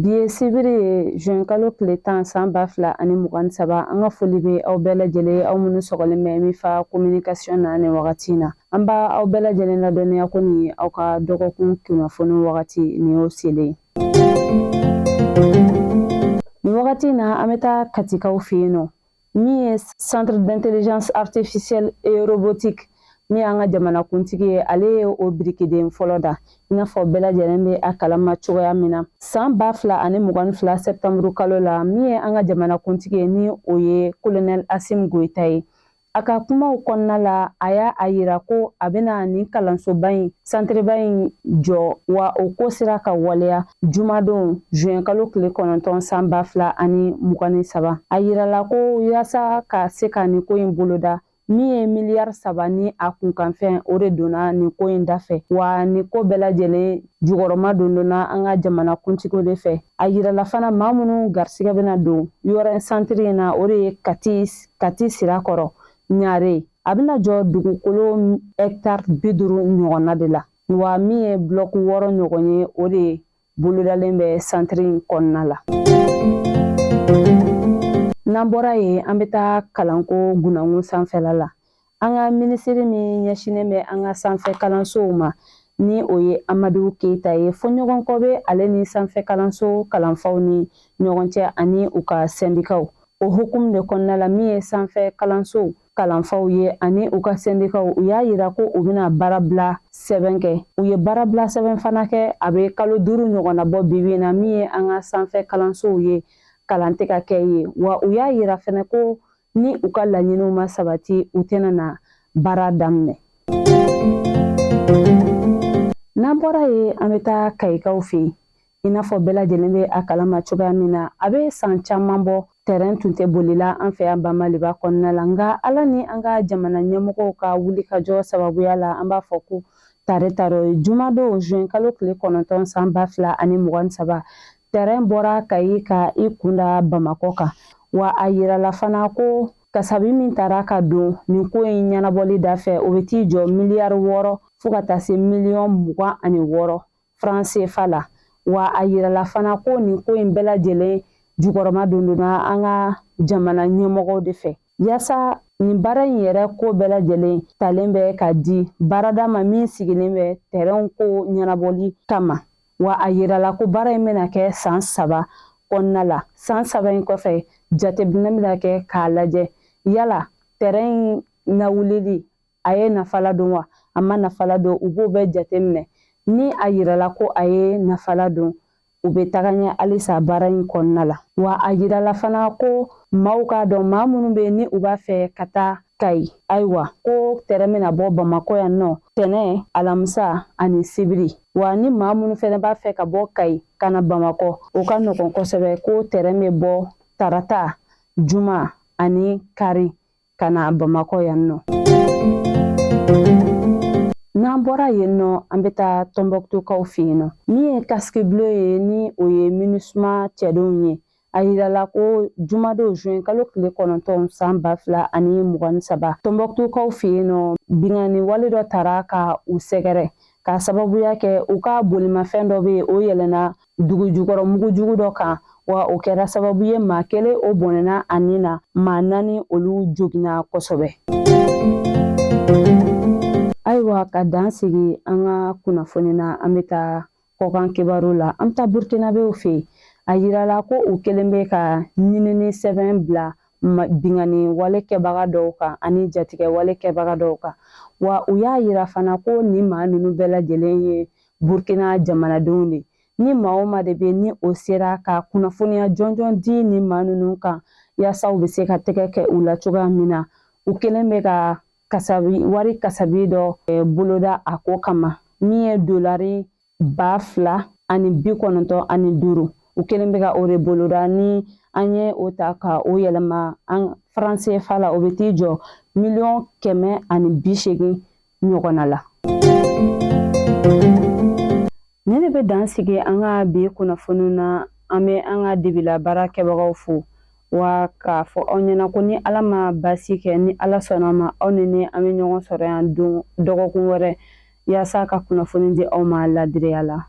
Bi ye sibiri ye juin kalo tile tan san ba fila ani mugan ni saba an ka foli bɛ aw bɛɛ lajɛlen aw minnu sɔgɔlen bɛ Mifa kominikasiyon na nin wagati in na an b'aw bɛɛ lajɛlen ladɔnniya ko nin aw ka dɔgɔkun kunnafoni wagati nin y'o selen ye nin wagati in na an bɛ taa katikaw fɛ yen nɔ min ye centre d'intelligence artificielle et robotique min y'an ka jamanakuntigi ye ale ye o birikiden fɔlɔ da i n'a fɔ bɛɛ lajɛlen bɛ a kalama cogoya min na san ba fila ani mugan ni fila sɛptanburu kalo la min ye an ka jamanakuntigi ye ni o ye kolonɛl Asimi Goyita ye a ka kumaw kɔnɔna la a y'a yira ko a bɛna nin kalansoba in santiriba in jɔ wa o ko sera ka waleya jumadon zuwɛn kalo tile kɔnɔntɔn san ba fila ani mugan ni saba a yirala ko yaasa ka se ka nin ko in boloda min ye miliyari saba ni a kunkanfɛn o de donna nin ko in dafɛ wa nin ko bɛɛ lajɛlen jukɔrɔma dondonna an ka jamana kuntigiw de fɛ a yirala fana maa minnu garisigɛ bɛna don yɔrɔ santiri in na o de ye kati kati sirakɔrɔ ɲare a bɛna jɔ dugukolo hɛkitari bi duuru ɲɔgɔnna de la wa min ye bulɔki wɔɔrɔ ɲɔgɔn ye o de bolodalen bɛ santiri in kɔnɔna la n'an bɔra yen an bɛ taa kalanko gunankun sanfɛla la an ka minisiri min ɲɛsinnen bɛ an ka sanfɛ kalansow ma ni o ye amadu keyita ye fɔɲɔgɔnkɔ bɛ ale ni sanfɛ kalanso kalanfaw ni ɲɔgɔn cɛ ani u ka sɛndikaw O hukumu de kɔnɔna la min ye sanfɛ kalansow kalanfaw ye ani u ka sɛndikaw u y'a yira ko u bɛna baarabila sɛbɛn kɛ u ye baarabila sɛbɛn fana kɛ a bɛ kalo duuru ɲɔgɔnna bɔ bibi na min ye an ka sanfɛ kalansow ye kalan tɛ ka kɛ yen wa u y'a yira fana ko ni u ka laɲiniw ma sabati u tɛna na baara daminɛ n'an bɔra yen an bɛ taa kayikaw fɛ yen i n'a fɔ bɛɛ lajɛlen bɛ a kalama cogoya min na a bɛ san caman bɔ tɛrɛn tun tɛ boli la an fɛ yan ba Maliba kɔnɔna la nka ala ni an ka jamana ɲɛmɔgɔw ka wulikajɔ sababuya la an b'a fɔ ko tare tare jumadon zuwɛn kalo tile kɔnɔntɔn san ba fila ani mugan saba tɛrɛn bɔra kayi ka i kunda bamakɔ kan wa a yirala fana ko kasabi min tara ka don nin ko in ɲɛnabɔli dafɛ o bɛ t'i jɔ miliyari wɔɔrɔ fo ka taa se miliyɔn mugan ani wɔɔrɔ faran sefa la wa a yirala fana ko nin ko in bɛɛ lajɛlen jukɔrɔma dondonna an ka jamana ɲɛmɔgɔw de fɛ yaasa nin baara in yɛrɛ ko bɛɛ lajɛlen talen bɛ ka di baarada ma min sigilen bɛ tɛrɛnw ko ɲɛnabɔli kama wa a yirala ko baara in bɛna kɛ san saba kɔnɔna la san saba in kɔfɛ jateminɛ bɛna kɛ k'a lajɛ yala tɛrɛn in lawulili a ye nafa ladon wa a ma nafa ladon u b'o bɛɛ jate minɛ ni a yirala ko a ye nafa ladon u bɛ taga ɲɛ halisa baara in kɔnɔna la wa a yirala fana ko maaw k'a dɔn maa minnu bɛ ni u b'a fɛ ka taa kayi ayiwa ko tɛrɛn bɛna bɔ bamakɔ yan nɔ tɛnɛn alamisa ani sibiri wa ni maa minnu fana b'a fɛ ka bɔ kayi ka na bamakɔ o ka nɔgɔn kosɛbɛ ko tɛrɛn bɛ bɔ tarata juma ani kari ka na bamakɔ yan nɔ n'an bɔra yen nɔ an bɛ taa tɔnbɔkutukaw fɛ yen nɔ min ye casque bleu ye ni o ye minusma cɛdenw ye a yirala ko jumadon juin kalo tile kɔnɔntɔn san ba fila ani mugan ni saba tɔnbɔkutukaw fɛ yen nɔ binkanni wale dɔ taara ka u sɛgɛrɛ k'a sababuya kɛ u ka bolimafɛn dɔ bɛ yen o yɛlɛnna dugu jukɔrɔ mugu jugu dɔ kan wa o kɛra sababu ye maa kelen o bɔnɛna a ni na maa naani olu joginna kosɛbɛ ayiwa ka dan sigi an ka kunnafoni na an bɛ taa kɔkan kibaru la an bɛ taa burukinabew fɛ yen a yirala ko u kelen bɛ ka ɲinini sɛbɛn bila binkanni wale kɛbaga dɔw kan ani jatigɛ wale kɛbaga dɔw kan wa u y'a yira fana ko nin maa ninnu bɛɛ lajɛlen ye burukina jamanadenw de ni maa o maa de bɛ ni o sera ka kunnafoniya jɔnjɔn di nin maa ninnu kan yaasa u bɛ se ka tɛgɛ kɛ u la cogoya min na u kelen bɛ ka wari kasabi dɔ eh, boloda a ko kama min ye dolari ba fila ani bi kɔnɔntɔn ani duuru u kelen bɛ ka o de boloda ni an ye o ta ka o yɛlɛma an franc cfa la o bɛ t'i jɔ miliyɔn kɛmɛ ani bi seegin ɲɔgɔnna la ne de bɛ dan sigi an ka bi kunnafoniw na an bɛ an ka dibila baara kɛbagaw fo wa k'a fɔ aw ɲɛna ko ni ala ma baasi kɛ ni ala sɔnna a ma aw ni ne an bɛ ɲɔgɔn sɔrɔ yan don dɔgɔkun wɛrɛ yaasa ka kunnafoni di aw ma ladiriya la